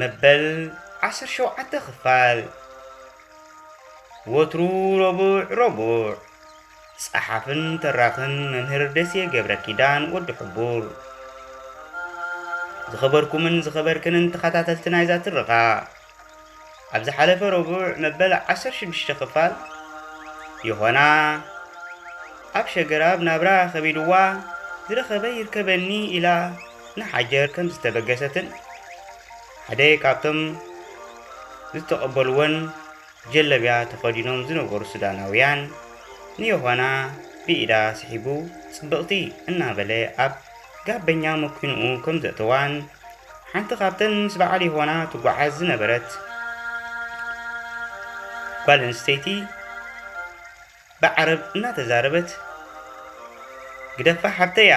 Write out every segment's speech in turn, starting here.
መበል ዓሰርተ ሸውዓተ ክፋል ወትሩ ረቡዕ ረቡዕ ጸሓፍን ተራኽን መምህር ደሴ ገብረ ኪዳን ወዲ ሕቡር ዝኸበርኩምን ዝኸበርክንን ተኸታተልቲ ናይዛ ትረኻ ኣብ ዝሓለፈ ረቡዕ መበል ዓሰርተ ሽዱሽተ ክፋል ዮሃና ኣብ ሸገራብ ናብራ ከቢድዋ ዝረኸበ ይርከበኒ ኢላ ንሓጀር ከም ዝተበገሰትን ሓደ ካብቶም ዝተቐበልዎን ጀለብያ ተኸዲኖም ዝነበሩ ሱዳናውያን ንዮሃና ብኢዳ ስሒቡ ጽብቕቲ እናበለ ኣብ ጋበኛ መኪንኡ ከም ዘእተዋን ሓንቲ ካብተን ምስ በዓል የሆና ትጓዓዝ ዝነበረት ጓል ኣንስተይቲ ብዓረብ እናተዛረበት ግደፋ ሓብተያ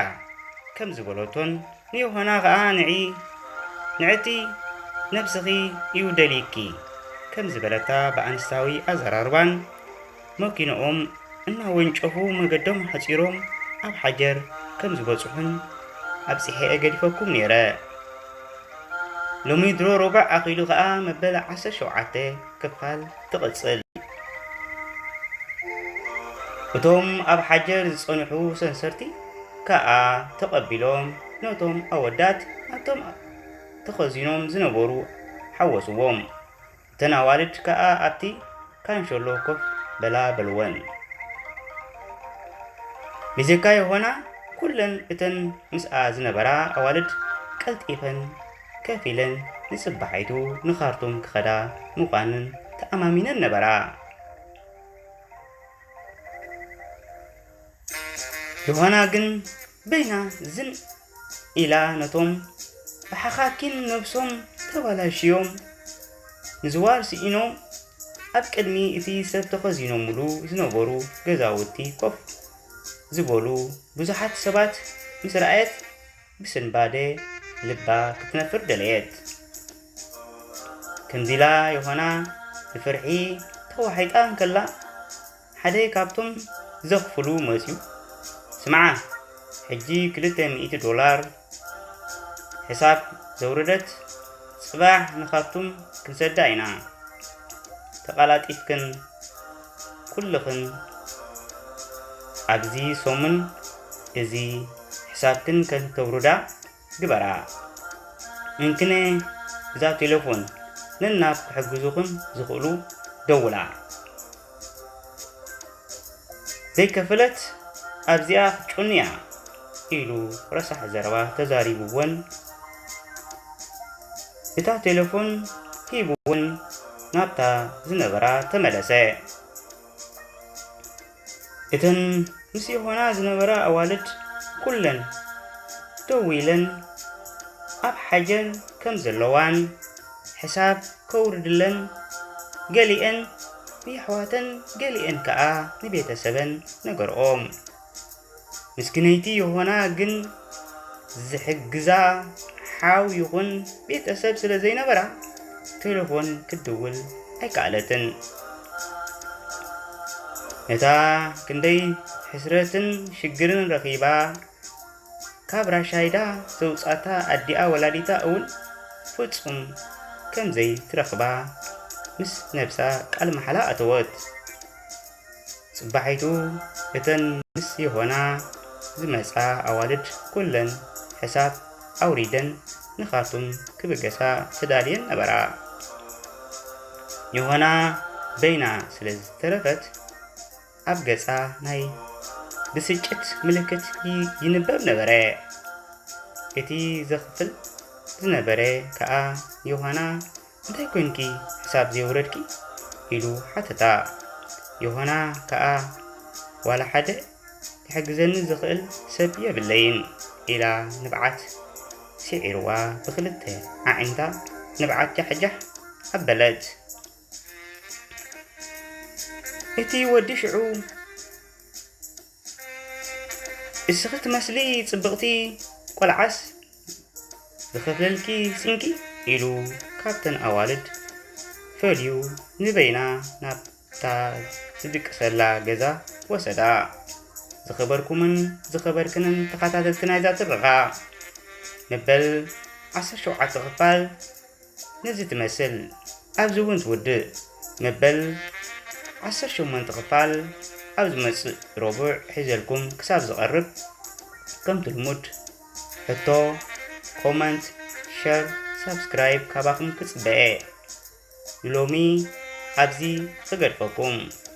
ከም ዝበለቶን ንዮሆና ኸኣ ንዒ ንዕቲ ነብስኺ እዩ ደልይኪ ከም ዝበለታ ብኣንስታዊ ኣዘራርባን መኪናኦም እናወንጨፉ መገዶም ሓጺሮም ኣብ ሓጀር ከም ዝበጽሑን ኣብጺሐ'የ ገዲፈኩም ነይረ። ሎሚ ድሮ ሮብዕ ኣኺሉ ከኣ መበል ዓሰርተ ሸውዓተ ክፋል ትቕጽል። እቶም ኣብ ሓጀር ዝጸንሑ ሰንሰርቲ ከኣ ተቐቢሎም ነቶም ኣወዳት ናብቶም ተኸዚኖም ዝነበሩ ሓወስዎም። እተን ኣዋልድ ከኣ ኣብቲ ካንሸሎ ኮፍ በላ በልወን። ብጀካ ዮሃና ኩለን እተን ምስኣ ዝነበራ ኣዋልድ ቀልጢፈን ከፍ ኢለን ንጽባሒቱ ንኻርቱም ክኸዳ ምዃንን ተኣማሚነን ነበራ። ዮሃና ግን በይና ዝን ኢላ ነቶም ብሓኻኪን ነብሶም ተባላሽዮም ንዝዋር ስኢኖም ኣብ ቅድሚ እቲ ሰብ ተኸዚኖምሉ ዝነበሩ ገዛውቲ ኮፍ ዝበሉ ብዙሓት ሰባት ምስ ረኣየት ብስንባደ ልባ ክትነፍር ደለየት። ከምዚላ ዮሃና ብፍርሒ ተዋሒጣ እንከላ ሓደ ካብቶም ዘኽፍሉ መጺኡ ስምዓ ሕጂ ክልተ ሚእቲ ዶላር ሕሳብ ዘውረደት ጽባሕ ንካርቱም ክንሰዳ ኢና ተቃላጢፍክን ኩልኽን ኣብዚ ሰሙን እዚ ሕሳብክን ከተውርዳ ግበራ እንክነ እዛ ቴለፎን ነናብ ክሕግዙኽን ዝኽእሉ ደውላ ዘይከፈለት ኣብዚኣ ክትጩን እያ ኢሉ ረሳሕ ዘረባ ተዛሪቡወን እታ ቴለፎን ሂቡውን ናብታ ዝነበራ ተመለሰ። እተን ምስ ዮሃና ዝነበራ ኣዋልድ ኩለን ደው ኢለን ኣብ ሓጀን ከም ዘለዋን ሕሳብ ከውርድለን ገሊኤን ንየሕዋተን ገሊኤን ከኣ ንቤተሰበን ነገርኦም። ምስክነይቲ ዮሆና ግን ዝሕግዛ ሓው ይኹን ቤተሰብ ስለ ዘይነበራ ቴሌፎን ክትድውል ኣይከኣለትን። ነታ ክንደይ ሕስረትን ሽግርን ረኺባ ካብ ራሻይዳ ዘውፃታ ኣዲኣ ወላዲታ እውን ፍጹም ከምዘይ ትረኽባ ምስ ነብሳ ቃል መሓላ ኣተወት። ጽባሒቱ እተን ምስ ዮሃና ዝመጻ ኣዋልድ ኩለን ሕሳብ ኣውሪደን ንኻርቱም ክብገሳ ተዳልየን ነበራ። ዮሃና በይና ስለ ዝተረፈት ኣብ ገጻ ናይ ብስጭት ምልክት ይንበብ ነበረ። እቲ ዘኽፍል ዝነበረ ከኣ ዮሃና እንታይ ኰይንኪ ክሳብ ዘይወረድኪ? ኢሉ ሓተታ። ዮሃና ከኣ ዋላ ሓደ ክሕግዘኒ ዝኽእል ሰብ የብለይን፣ ኢላ ንብዓት ስዒሩዋ ብኽልተ ኣዒንታ ንብዓት ጃሕጃሕ ኣበለት። እቲ ወዲ ሽዑ። እስኺ ትመስሊ ጽብቕቲ ቆልዓስ ዝኸፍለልኪ ስንቂ ኢሉ ካብተን ኣዋልድ ፈልዩ ንበይና ናብታ ዝድቅሰላ ገዛ ወሰዳ። ዝኸበርኩምን ዝኸበርክንን ተኸታተልቲ ናይዛ ትረኻ መበል ዓሰርተ ሸውዓተ ክፋል ነዚ ትመስል ኣብዚ እውን ትውድእ መበል ዓሰርተ ሸሞንተ ክፋል ኣብ ዝመጽእ ረቡዕ ሒዘልኩም ክሳብ ዝቐርብ ከምቲ ልሙድ ሕቶ ኮመንት ሸር ሳብስክራይብ ካባኹም ክጽበየ ንሎሚ ኣብዚ እገድፈኩም